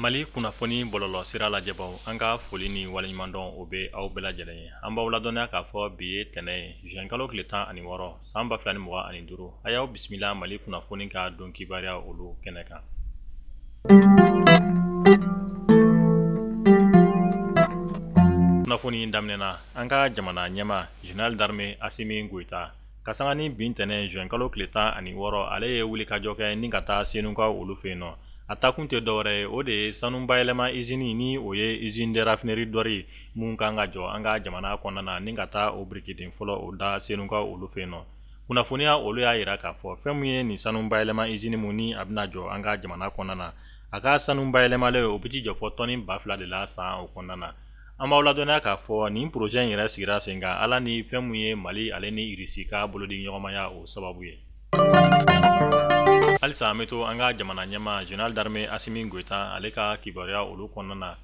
mali kunnafoni bɔlɔlɔ sira lajɛbaw an ka foli ni waleɲumandɔn o bɛ aw bɛɛ lajɛlen ye an b'aw ladɔnniya k'a fɔ bi ye tɛnɛ ye zuwɛnkalo tile tan ani wɔɔrɔ san ba fila ni mugan ani duuru a y'aw bisimila mali kunnafoni ka don kibaruya olu kɛnɛ kan kunnafoni daminɛna an ka jamana ɲɛma général d'armée asimi goyita ka sanga nin bi tɛnɛ juin kalo tile tan ani wɔɔrɔ ale ye wulikajɔ kɛ ni ka taa senuka olu fɛ yen nɔ a taakun tɛ dɔwɛrɛ ye o de ye sanu bayɛlɛma izini ni o ye usine de raffinerie d'or min kan ka jɔ an ka jamana kɔnɔna na ni ka taa o birikiden fɔlɔ o da senuka olu fɛ yen nɔ kunnafoniya olu y'a jira k'a fɔ fɛn min ye nin sanu bayɛlɛma izini min ni a bɛna jɔ an ka jamana kɔnɔna na a ka sanu bayɛlɛmalen o bɛ t'i jɔ fɔ tɔni ba fila de la san o kɔnɔna na an b'aw ladɔnniya k'a fɔ nin poroze in yɛrɛ sigira sen kan ala ni fɛn min ye mali ale ni irisi ka bolodiɲɔgɔnmaya o sababu ye halisa an bɛ to an ka jamana ɲɛma général d'armée asimi goyita ale ka kibaruya olu kɔnɔna na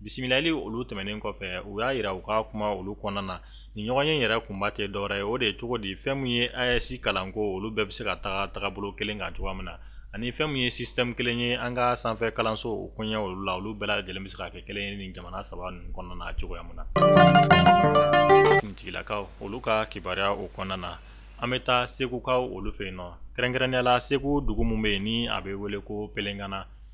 bisimilali olu tɛmɛnen kɔfɛ u y'a jira u ka kuma olu kɔnɔna na nin ɲɔgɔnye yɛrɛ kunba tɛ dɔwɛrɛ ye o de ye cogo di fɛn min ye AES kalanko olu bɛɛ bɛ se ka taga tagabolo kelen kan cogoya min na ani fɛn min ye système kelen ye an ka sanfɛ kalanso o koɲɛ olu la olu bɛɛ lajɛlen bɛ se ka kɛ kelen ye nin jamana saba ninnu kɔnɔna na cogoya min na finitigilakaw olu ka kibaruya o kɔnɔna na an bɛ taa segukaw olu fɛ yen nɔ kɛrɛnkɛrɛnnenya la segu dugu min bɛ yen ni a bɛ wele ko pelenkana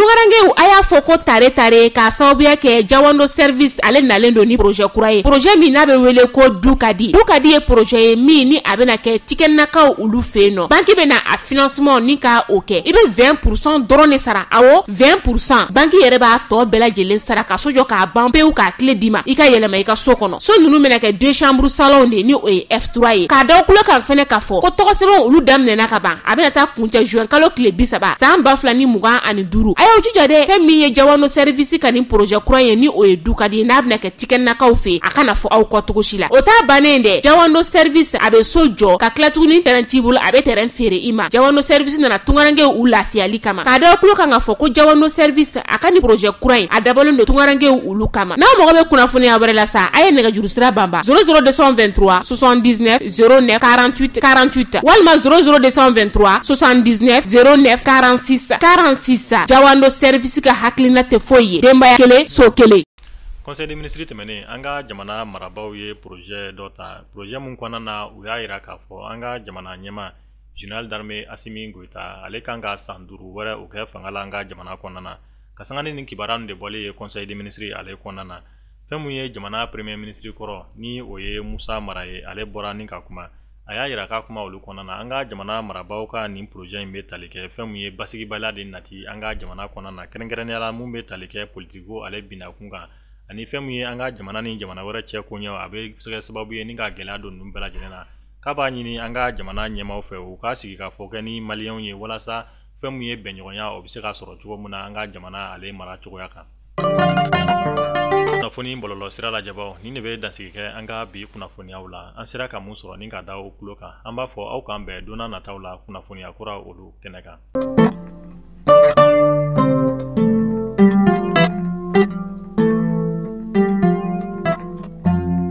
Tungarankew a y'a fɔ ko tare tare k'a sababuya kɛ jawando service ale nalen don ni poroze kura ye poroze min n'a bɛ wele ko du ka di du ka di ye poroze ye min ni a bɛna kɛ tikɛnakaw olu fɛ yen nɔ banki bɛna a financement ni ka o kɛ i bɛ vingt pour cent dɔrɔn de sara awɔ vingt pour cent banki yɛrɛ b'a tɔ bɛɛ lajɛlen sara ka so jɔ k'a ban pewu k'a kile d'i ma i ka yɛlɛma i ka so kɔnɔ so ninnu bɛna kɛ deux chambres salon de ni o ye F3 ye k'a da kulo kan fɛnɛ k'a fɔ ko tɔgɔsɛbɛnw olu daminɛna ka ban a bɛna taa kuncɛ juin kalo tile bi saba san ba fila ni mugan ani duuru a y'aw jija dɛ fɛn min ye jawando sɛrivisi ka nin porozɛ kura ye ni o ye du ka di ye n'a bɛna kɛ tikɛnakaw fɛ a kana fɔ aw kɔ cogo si la o t'a bannen ye dɛ jawando sɛrivisi a bɛ so jɔ ka tila tuguni tɛrɛn t'i bolo a bɛ tɛrɛn feere i ma jawando sɛrivisi nana tungarankew u lafiyali kama k'a da kulo kan k'a fɔ ko jawando sɛrivisi a ka nin porozɛ kura in a dabɔlen don tungarankew olu kama n'aw mago bɛ kunnafoniya wɛrɛ la sa a ye nɛgɛjuru sira banba zéro zéro deux cent vingt-trois soixante-dix-neuf zéro neuf quarante-huit quarante-huit walima zéro zéro deux cent vingt-trois soixante-dix-neuf zéro neuf quarante-six quarante-six jawando sɛrivisi ka hakilina tɛ foyi ye denbaya kelen so kelen conseil des ministres tɛmɛnen an ka jamana marabaaw ye projet dɔ ta projet mun kɔnɔna na u y'a yira k'a fɔ an ka jamana ɲɛmaa général d'armée asimi goyita ale kan ka san duuru wɛrɛ o kɛ fanga la an ka jamana kɔnɔna na ka sanga ni nin kibaruya de bɔlen ye conseil des ministres ale kɔnɔna na fɛn min ye jamana premier ministre kɔrɔ ni o ye musa mara ye ale bɔra ni ka kuma a y'a yira k'a kuma olu kɔnɔna na an ka jamana marabaaw ka nin projet in bɛ tali kɛ fɛn min ye basigibaliya de nati an ka jamana kɔnɔna na kɛrɛnkɛrɛnnenya la min bɛ tali kɛ politikiko ale binakun kan ani fɛn min ye an ka jamana ni jamana wɛrɛ cɛ koɲɛw a bɛ se ka kɛ sababu ye ni ka gɛlɛya don ninnu bɛɛ lajɛlen na k'a b'a ɲini an ka jamana ɲɛmaaw fɛ u ka sigi ka fɔ kɛ ni maliyɛnw ye walasa fɛn min ye bɛnɲɔgɔnya o bɛ se ka sɔrɔ cogo min na an ka jamana ale mara cogoya kan kunnafoni bɔlɔlɔ sira lajɛbaaw nin de bɛ dansigi kɛ an ka bi kunnafoniyaw la an sera ka mun sɔrɔ ni ka da o kulo kan an b'a fɔ aw k'an bɛn donna nataw la kunnafoniya kura olu kɛnɛ kan